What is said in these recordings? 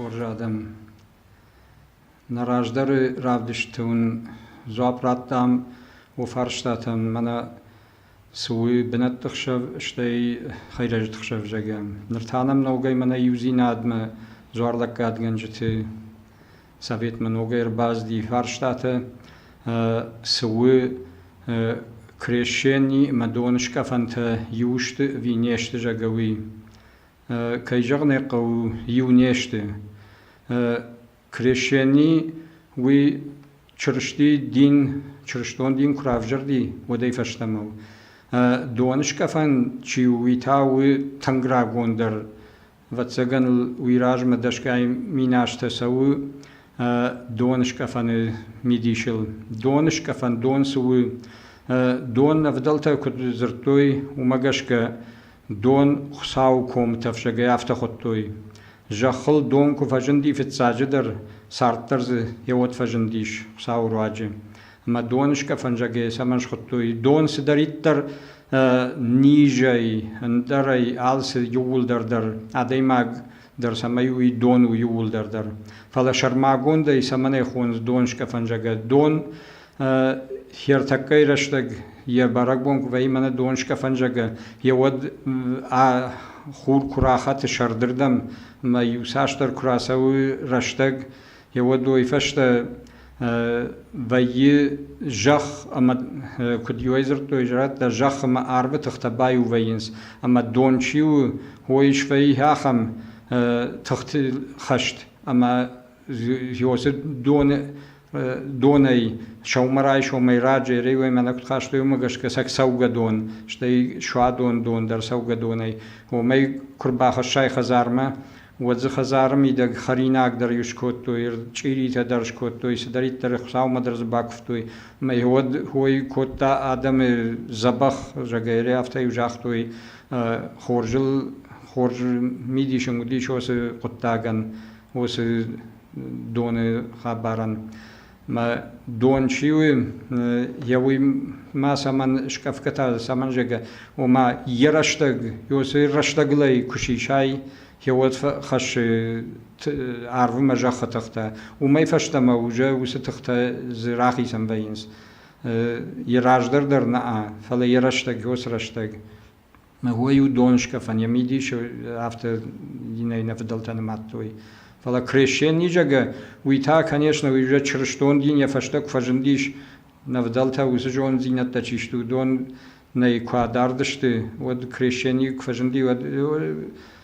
хорз адӕм, нӕ раздӕры равдысты уын дзуапп радтам уӕ фарстатӕн. Мӕнӕ цы у бынӕтты хсӕв, стӕй хӕйрӕджыты хсӕв зӕгӕм. Ныр та нӕм нӕугӕй мӕнӕ иудзинадмӕ дзуарлӕггадгӕнджыты Советмӕ ногӕй ӕрбацыди фарстатӕ, цы у крещени ӕмӕ доныскъӕфӕнтӕ иу сты ӕви не сты, зӕгъгӕ, уый. Кӕй зӕгъын ӕй хъӕуы, иу не сты. Крещени уый Чырысти дин, чырыстон дин куы равзӕрди, уӕдӕй фӕстӕмӕ у. Доныскъӕфӕн чи у, уый та у тынг рагондӕр Ӕвӕццӕгӕн ыл уый размӕ дӕсгай миназтӕ цӕуы донскъӕфӕны мидисыл. Донскъӕфӕн дон цы у? Дон ӕвдӕлтӕ куыд дзырдтой, уымӕ гӕсгӕ дон Хуыцауы комы тӕфсӕгӕй афтӕ хуыдтой. Зӕххыл дон куы фӕзынди фыццаджыдӕр, царддӕр дзы йӕ уӕд фӕзындис Хуыцауы руаджы. Ӕма донсгӕ фӕнзӕге цӕмӕн схудтуй? Дон цидӕриддӕр низӕй, ӕндӕрӕй алци иууылдӕр дӕр, адӕймаг дӕр цӕмӕй уй дон у иууылдӕр дӕр. Фалӕ сӕрмагондӕй цӕмӕн ӕй хонц донсгӕ фӕнзӕгӕ? Дон хертӕггӕй рӕстӕг е бӕрӕгбон ку вӕййа мӕнӕ донсгӕ фӕнзӕгӕ, е уӕд ӕ хур ку рахӕтта сӕрдирдӕм ӕма иуцасдӕр ку рацӕуй рӕстӕг, уӕдой фӕстӕ вӕййы зӕхх ӕмӕ куыд иуӕй дзырдтой радта зӕхх ӕмӕ арвы тыхтӕ баиу вӕййынц ӕмӕ дон чи у уой свӕййы ахӕм тыхты хӕст ӕмӕ ёсы доны донӕй сӕумӕрайсомӕй раджы реуемӕ куыд хастой уымӕ гӕсгӕ сӕ цӕугӕдон стӕй суадон дон дӕр цӕугӕдонӕй омӕй куы рбахӕссай хӕдзармӕ Уӕд дзы хӕдзары мидӕг хӕринагдӕр иу скодтой, чъиритӕ дӕр скодтой, цыдӕриддӕр Хуыцаумӕ дӕр дзы бакуывтой. Мӕ уӕд ой кодта адӕмы дзӕбӕх, зӕгӕй, афтӕ-иу загътой, хорзыл хорз мидис ын уыдис уыцы хъуыддагӕн, уыцы доны хабарӕн. Мӕ дон чи у, йӕ уый ма цӕмӕн скъӕфгӕ цӕмӕн зӕгъы, ома йӕ рӕстӕг, уыцы рӕстӕгылӕй куы сисай, йӕуӕд фӕхӕссы арвы мӕ зӕххы тыхтӕ. Уымӕй фӕстӕмӕ уже уыцы тыхтӕ дзы рахицӕн вӕййынц. Йӕ раздӕр дӕр нӕ, фӕлӕ йӕ рӕстӕг, уыцы рӕстӕг. уой у донскӕфӕн, е мидисы афтӕ иннӕ иннӕ фыдӕлтӕ нымадтой. Фӕлӕ крещен низӕгӕ, уый та, конечно, уый уже чырыстон дин йӕ фӕстӕ куы фӕзындис, нӕвдӕлтӕ уыцы зонддзинӕдтӕ чи сты, уыдон нӕй куы адард сты, уӕд крещени куы фӕзынди, уӕд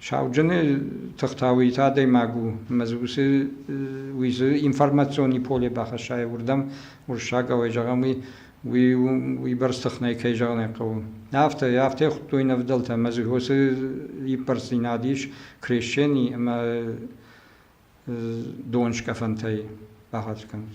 Сауджыны тыхтӕ уый та адӕймаг у, ӕмӕ дзы уыцы уый дзы информационный поле бахӕсса уырдӕм уырыссаг ауӕй зӕгъӕм уый уый уыйбӕрц тыхнӕй кӕй зӕгъын ӕй хъӕуы. Афтӕ, афтӕ хуыдтой нӕ вдӕлтӕ, ӕмӕ дзы уыцы иппӕрддзинад ис крещени ӕмӕ донскъӕфӕнтӕй бахӕц кӕнут.